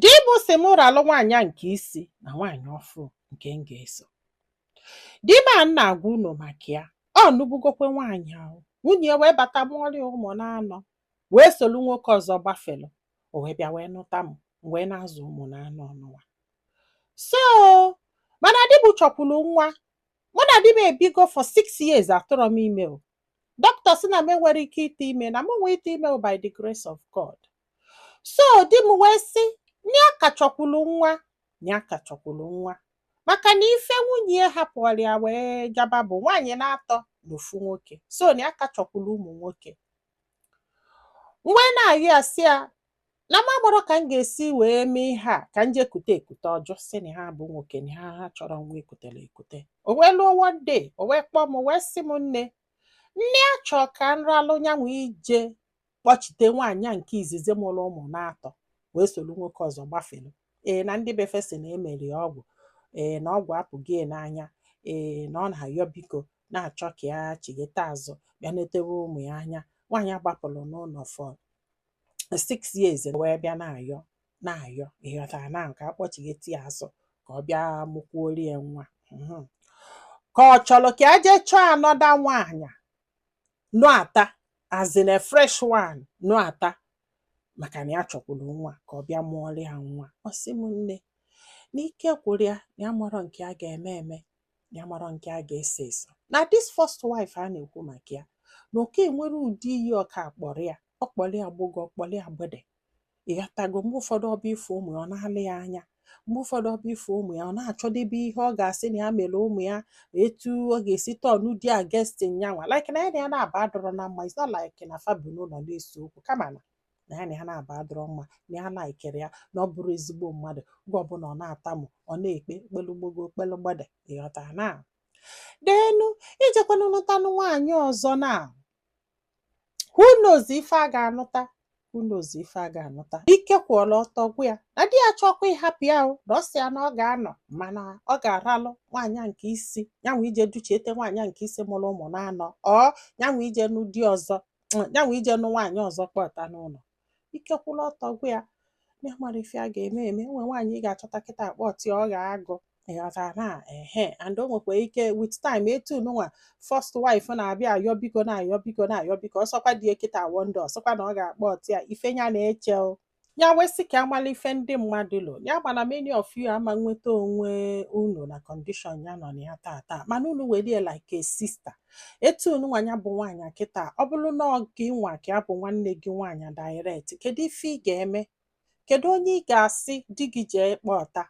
Di m sị m ralụ nwaanyị a nke isi na nwaanyị ọfụrụ nke m ga-eso. Di m a m na-agwa unu maka ya, ọ nụbugokwe nwaanyị ahụ. Nwunye ya wee bata mụọrị ya ụmụ n'anọ, wee solu nwoke ọzọ gbafelụ. O wee bịa wee nụta m, m wee na-azụ ụmụ n'anọ ọnụwa. So, mana di m chọkwuru nwa. Mụ na di m ebigo for six years atụrọ m ime o. dọkịta sị na m enwere ike ite ime na m nwee ite ime by the grace of God so di m wee sị nya ka chọkwulu nwa nya ka chọkwulu nwa maka na ife nwunye ya hapụụrụ ya wee gaba bụ nwaanyị na-atọ na ofu nwoke so nya ka chọkwulu ụmụ nwoke m wee na-ayị asị ya na m amarọ ka m ga-esi wee mee ihe a ka m jee kute ekute ọ jụ sị na ya bụ nwoke na ya achọrọ nwa ekutere ekute o wee luo one day o wee kpọọ m o wee sị m nne na ya chọọ ka m ralụ nyanwa ije kpọchite nwaanyị a nke izizi mụrụ ụmụ n'atọ wee soro nwoke ọzọ gbafere ee na ndị be fe sị na emeri ya ọgwụ ee na ọgwụ apụgo ya n'anya ee na ọ na-ayọ biko na-achọ ka ya chighete azụ bịa netewe ụmụ ya anya nwaanyị gbapụrụ n'ụnọ for six years wee bịa na-ayọ na-ayọ ịghọtara na ọ ka a kpọchigheti ya azụ ka ọ bịa mụkwuori ya nwa Mhm. ka ọ chọrọ ka ya jee chọọ another nwaanyị nụata as in a fresh one nụata maka na ya chọkwuru nwa ka ọ bịa mụọrọ ya nwa ọ sị m nne na ike gwụrụ ya na ya amarọ nke ya ga-eme eme ya amarọ nke ya ga-eso eso na this first wife a na-ekwu maka ya na okay e nwere ụdị ihe ọ ka akpọrọ ya ọ kpọrọ ya gbogo ọ kpọrọ ya gbede ịghọtago mgbe ụfọdụ ọ bịa ịfụ ụmụ ya ọ na-alọ ya anya mgbe ụfọdụ ọ bịa ịfụ ụmụ ya ọ na-achọdebe ihe ọ ga-asị na ya mere ụmụ ya etu ọ ga-esi turn di against yanwa like na ya na ya na-aba adịrọ na mma it's not like na fa bi n'ụlọ na-ese okwu kama na na ya na ya na-aba adịrọ mma na ya alikerọ ya na ọ bụrọ ezigbo mmadụ oge ọbụla ọ na-atamu ọ na-ekpe kpelu gbogo kpelu gbede ịghọta na then ijekwanụ nụtanụ nwaanyị ọzọ na who knows ife a ga-anụta who knows ife a ga-anụta ike kwụọla ọtọ gwụ ya na di ya chọkwa ịhapụ ya o na ọ sị ya na ọ ga-anọ mana ọ ga-aralụ nwaanyị a nke isi yanwa ije duchiete nwaanyị a nke isi mụrụ ụmụ na-anọ ọ yanwa ije nụ di ọzọ yanwa ije nụ nwaanyị ọzọ kpọta n'ụlọ ike kwụrụ ọtọ gwụ ya na ya amarọ ife ya ga-eme eme e nwe nwaanyị ị ga-achọta kịta a kpọti ya ọ ghọọ agụ ịghọta na ehe and o nwekwa ike with time etu nụnwa first wife na-abịa ayọ biko na-ayọ biko na-ayọ biko ọ sọkwa di ya kịta one day ọ sọkwa na ọ ga-akpọti ya ife ya na-eche o ya wee sị ka a mala ife ndị mmadụ lo ya mana many of you ama nweta onwe unu na condition ya nọ na ya tata mana unu were ya like a sister etu unu nwa nya bụ nwaanyị kịta ọ bụrụ na ọ gị nwa ka ya bụ nwanne gị nwaanyị direct kedu ife ị ga-eme kedu onye ị ga-asị di gị jee kpọta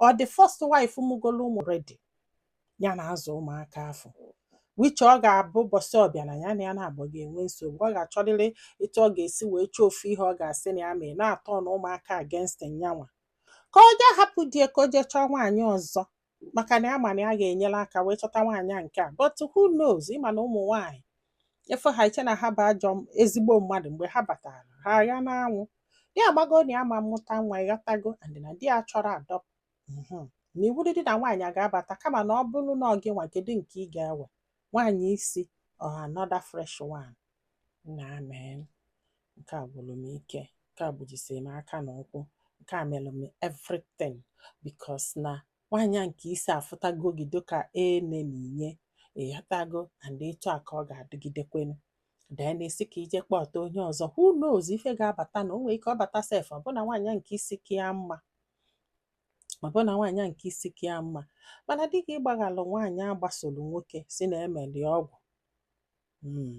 ọ the first wife mụgolo ụmụ ready ya na-azụ ụmụaka afụ which ọ ga-abụ ụbọsị ọbụna ya na ya naabọ ga-enwe nsogbu ọ ga-achọrịrị etu ọ ga-esi wee chọọ ofu ihe ọ ga-asị na ya mee na-atọn ụmụaka against nya nwa ka o jee hapụ di ya ka o jee chọọ nwaanyị ọzọ maka na ya ma na ya ga-enyere aka wee chọta nwaanyị nke a but who knows ị ma na ụmụ nwaanyị efe ha i chee na ha bụ ajọ m- ezigbo mmadụ mgbe ha batara ha agha n'anwụ ya agbago na ya ma mụta nwa ịghọtago and na di ya chọrọ adopt mhm. na iwu dị na nwaanyị a ga-abata kama na ọ bụrụ na ọ gị nwa kedu nke ị ga-ewe nwaanyị isi or another fresh one na I mean nke a gwụrụ m ike nke a gbujisiri m aka na ụkwụ nke a mere m everything because na nwaanyị a nke isi afụtago gị dịka enemy ya ịghọtago and etu a ka ọ ga-adịgidekwenu then a sị ka i jee kpọta onye ọzọ who knows ife ga-abata na o nwere ike ọ bata sef ọ bụ na nwaanyị nke isi ka ya mma ọ bụrụ na nwaanyị a nke isi ka ya mma mana dịka ịgbaghalụ nwaanyị a gbasoro nwoke sị na e meli ọgwụ mm.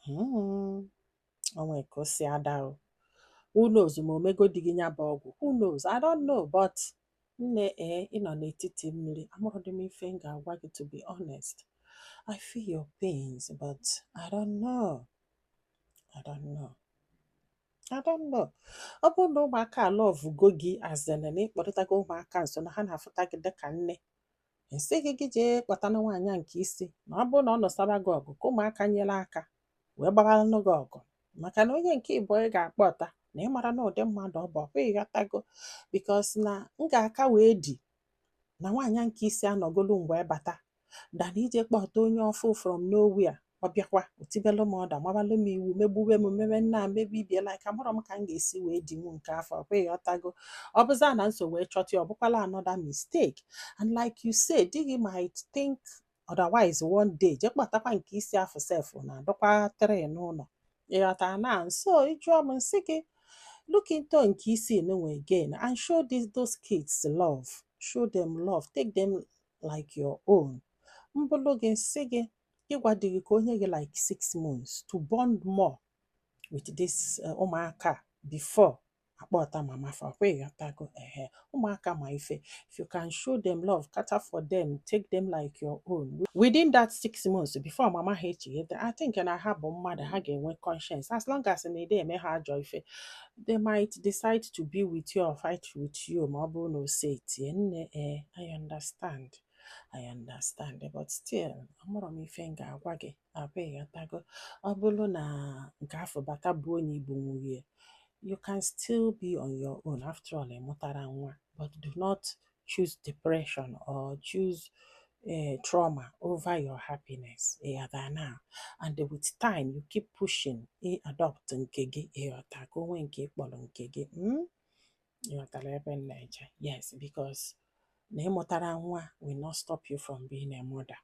mm. o nwe ka o si ada o who knows ma o mego di gị nya bụ ọgwụ who knows i don't know but nne ee eh, ị nọ n'etiti mmiri amarọdị m ife m ga-agwa gị to be honest i feel your pains but i don't know i don't know I don't know. Ọ bụrụ na ụmụaka alọvugo gị as in na ị kpọrịtago ụmụaka nso na ha na-afụta gị dịka nne m sị gị gị jee kpọtana nwaanyị a nke isi na ọ bụrụ na ọ nụsoba gị ọgụ ka ụmụaka nyere aka wee gbabaranụ gị ọgụ maka na onye nke ịbụọ ị ga-akpọta na ị marọ na ụdị mmadụ ọ bụ ọ bụ ị ghọtago because na m ga-aka wee di na nwaanyị nke isi anọgolu m wee bata than ije kpọta onye ọfụ from nowhere ọ bịakwa o tibelu m order mabalụ m iwu megbube m mebe nna mebe ibie like amarọ m ka m ga-esi wee di m nke afụ ọkwa ịghọtago ọ bụzị na m so wee chọta ya ọ bụkwala another mistake and like you say di gị might think otherwise one day je kpọtakwa nke isi afụ sef na adịkwa three n'ụlọ ịghọtana so ị jụọ m m sị gị look into nke isi nụ again and show those kids love show them love take them like your own m bụlụ gị m sị gị gwa di gị ka o nye gị like six months to bond more with this eh, ụmụaka before akpọta mama fa ọkwa ịghọtago ehe ụmụaka ma ife if you can show them love cater for them take them like your own within that six months before mama ha echighete i think na ha bụ mmadụ ha ga-enwe conscience as long as na i de eme ha ajọ ife they might decide to be with you or fight with you ma ọ bụrụ na ose etie nne ee eh, I understand I understand but still ọ bụrụ m ife m ga-agwa gị ọkwa ịghọtago ọ bụrụ na nke afụ bata bụ onye igbo nwunye you can still be on your own after all ị mụtara nwa but do not choose depression or choose uh, trauma over your happiness ịghọta now and with time you keep pushing ị eh, adopt nke gị ịghọta ka o nwee nke ị kpọrọ nke gị hmm? ịghọtara ebe m na-eje yes because na ị mụtara nwa will not stop you from being a mother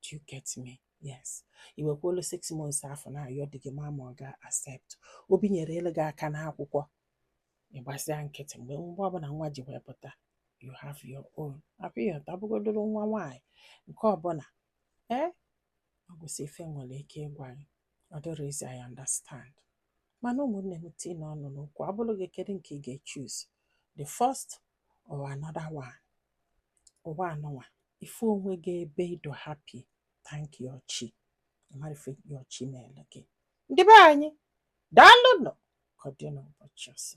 do you get me yes i wekwuolu six months afụ na-ayọ di gị ma ma ọ ga-accept o binyerelu gị aka n'akwụkwọ ị gbasịa nkịtị mgbe mgbe ọbụla nwa ji wee pụta you have your own ọkwa ịghọta ọ bụgodulu nwa nwaanyị nke ọbụla ee ọ gwụsịa ife m nwere ike ịgwa gị ọ dịrọ easy I understand mana ụmụnne m tiinụ ọnụ n'okwu ọ bụrụ gị kedu nke ị ga-echoose the first or another one ụwa a nọ nwa ị fụ onwe gị ebe ị dị happy thank your chi ị mara ife your chi meelu gị ndị be anyị daalụnụ ka ọ dị n'ụbọchị ọzọ